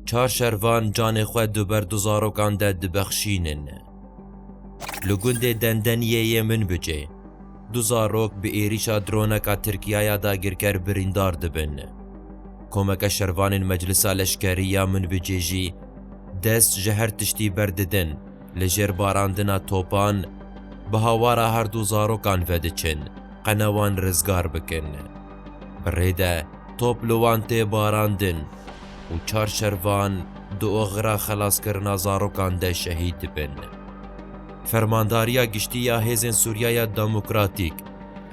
Çar şervan canê xwe du ber du zarokan de dibexşînin. Li gundê Dendeniyê yê Minbicê du zarok bi êrîşa droneka Tirkiya ya dagirker birîndar dibin. Komeke şervanên Meclisa Leşkerî ya Minbicê jî dest ji her tiştî berdidin li jêr barandina topan bi hawara her du zarokan vediçin qene wan rizgar bikin. Bi rê de top li wan tê barandin û çar şervan di oxira xelaskirina zarokan de şehîd dibin. Fermandariya Giştî ya Hêzên Sûriya ya Demokratîk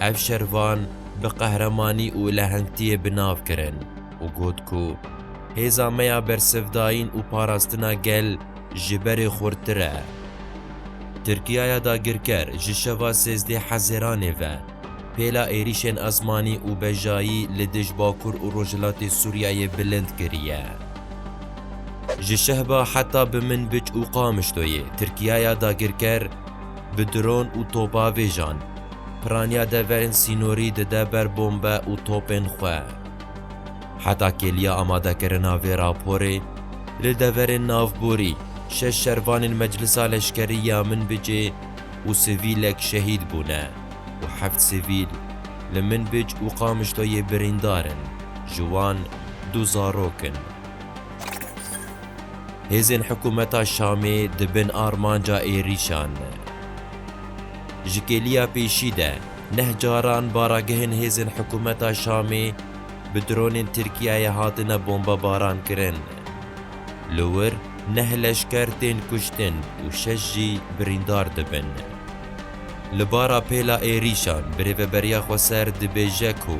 ev şervan bi qehremanî û lehengtiyê bi nav kirin û got ku Hêza me ya bersivdayîn û parastina gel ji berê xurttir e. Tirkiya ya dagirker ji şeva sêzdeh Hezêranê ve, Pêla êrîşên esmanî û bejayî li dij Bakur û Rojhilatê Sûriyeyê bilind kiriye. Ji Şehba heta bi Minbic û Qamişloyê Tirkiyaya dagirker bi dron û topavêjan piraniya deverên sînorî dide ber bombe û topên xwe. Heta kêliya amadekirina vê raporê, li deverên navborî şeş şervanên Meclisa Leşkerî ya Minbicê û sivîlek şehîd bûne. û heft sivîl li Minbic û Qamişloyê birîndar in, ji wan du zarok in. Hêzên hikûmeta Şamê di bin armanca êrîşan ne. Ji kêliya pêşî de neh caran baragehên hêzên hikûmeta Şamê bi dronên Tirkiyeyê hatine bombebarankirin. Li wir neh leşker tên kuştin û şeş jî birîndar dibin. Li bara pêla êrîşan birêveberiya Xweser dibêje ku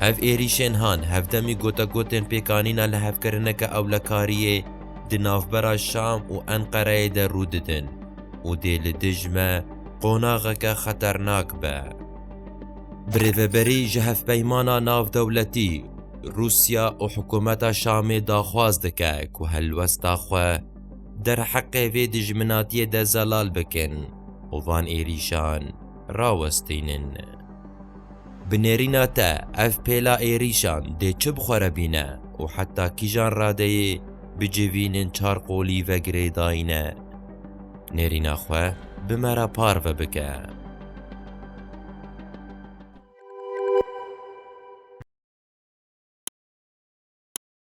Ev êrîşên han hevdemî gotegotên pêkanîna lihevkirineke ewlekariyê di navbera Şam û Enqereyê de rû didin û dê li dij me qonaxeke xeternak be. Birêveberî ji Hevpeymana Navdewletî, Rûsya û Hikûmeta Şamê daxwaz dike ku helwesta xwe, derheqê vê dijminatiyê de zelal bikin û van êrîşan rawestînin. Bi nêrîna te ev pêla êrîşan dê çi bi xwe re bîne û heta kîjan radeyê bicivînin çar qolî ve girêdayîne nêrîna xwe bi me re parve bike.